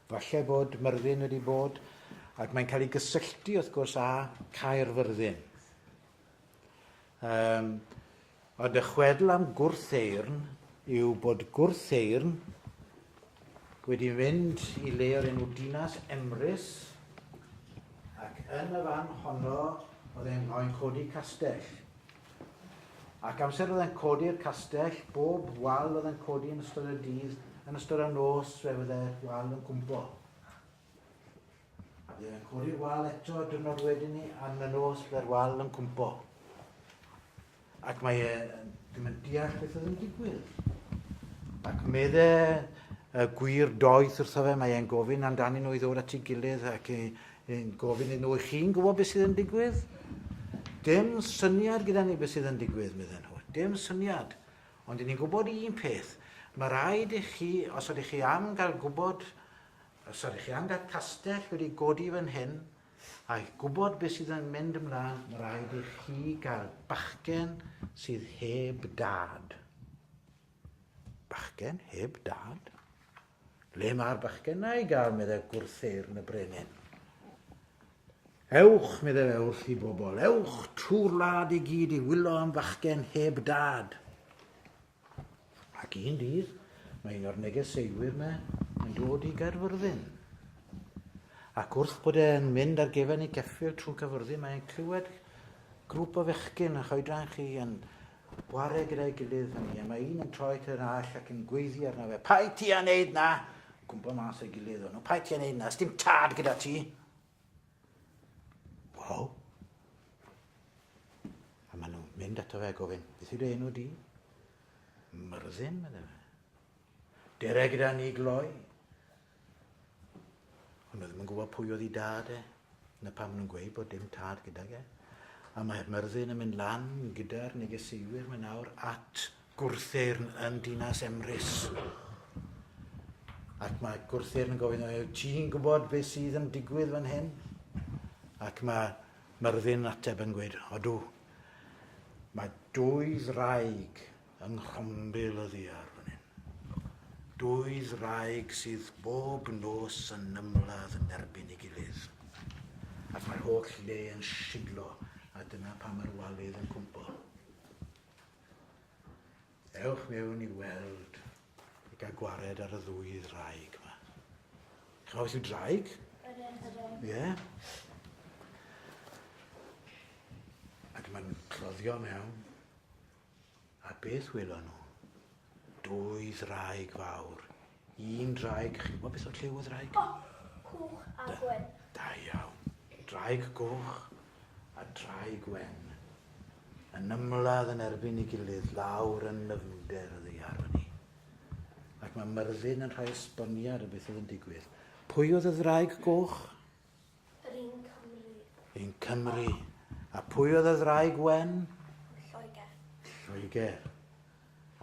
Falle bod Myrddin wedi bod, ac mae'n cael ei gysylltu wrth gwrs â Caerfyrddin. Um, ond y chwedl am gwrtheirn yw bod gwrtheirn wedi mynd i le o'r enw Dinas Emrys ac yn y fan honno oedd e'n rhoi'n codi castell. Ac amser oedd e'n codi'r castell, bob wal oedd e'n codi yn ystod y dydd, yn ystod y nos fe fydde'r wal yn cwmpo. Fe fe'n codi'r wal eto y dynod wedyn ni, am y nos fe'r wal yn cwmpo. Ac mae e ddim yn deall beth oedd yn digwydd. Ac medde y gwir doeth wrtho fe, mae e'n gofyn amdanyn nhw i ddod at ei gilydd ac i, Yn gofyn iddyn nhw, 'Ych chi'n gwybod beth sydd yn digwydd? Dim syniad gyda ni beth sydd yn digwydd, medden nhw. Dim syniad. Ond ni'n gwybod un peth. Mae rhaid i chi, os ydych chi am gael gwybod, os ydych chi am gael castell wedi godi fan hyn, a gwybod beth sydd yn mynd ymlaen, mae rhaid i chi gael bachgen sydd heb dad. Bachgen heb dad? Le mae'r bachgena i gael, meddai gwrtheyrn y brenin. Ewch, meddai fe wrth i bobl, ewch trwy'r wlad i gyd i wylo am fachgen heb dad. Ac un dydd, mae un o'r negeseuwyr yma yn dod i Gaerfyrddin. Ac wrth bod e'n mynd ar gefen i ceffil trwy Caerfyrddin, mae'n clywed grŵp o fechgyn yn choedran chi yn Chwarae gyda'i gilydd fan hyn, mae un yn troi at yr arall ac yn gweiddi arno fe, Paid ti a wneud na! Cwmpo mas o'i gilydd o'n nhw, Paid ti a wneud na, sdim tad gyda ti! Waw! A maen nhw'n mynd ato fe gofyn, beth yw'r enw di? Myrddin, meddai fe. Dere gyda ni gloi. O'n nhw ddim yn gwybod pwy oedd ei dad e. Na pam nhw'n gweud bod dim tad gydag e. A mae Myrddin yn mynd lan gyda'r negeseuwyr mae nawr at gwrtheirn yn dinas Emrys. Ac mae gwrtheirn yn gofyn, yw ti'n gwybod beth sydd yn digwydd fan hyn? Ac mae Myrddin ateb yn gweud, odw, mae dwy ddraig Yng nghwmbil y ddiar fan hyn. Dwy ddraig sydd bob nos yn ymladd yn erbyn ei gilydd. Ac mae'r holl le yn siglo a dyna pam mae'r walydd yn cwmpo. Ewch mewn i weld i gael gwared ar y ddwy ddraig yma. Chawr beth yw draig? Ie. Yeah. Ac mae'n cloddio mewn A beth welon nhw? Dwy ddraig fawr. Un draig, chi'n gwybod beth oedd lliw y ddraig? O, coch a gwen. Da iawn. Draig goch a draig wen. Yn ymladd yn erbyn ei gilydd lawr yn nyfnder y ddeiar fyny. Ac mae Myrddin yn rhoi esboniad o beth oedd yn digwydd. Pwy oedd y ddraig goch? Yr un Cymru. Yn Cymru. A pwy oedd y ddraig wen? Lloegr. Lloegr.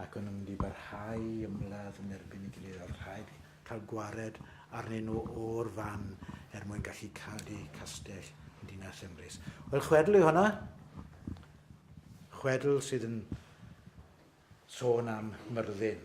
Ac o'n nhw'n mynd i barhau ymladd yn erbyn i gilydd. Oedd rhaid cael gwared arnyn nhw o'r fan er mwyn gallu cadw castell yn dinas Emrys. Wel, chwedl yw hwnna. Chwedl sydd yn sôn am Myrddin.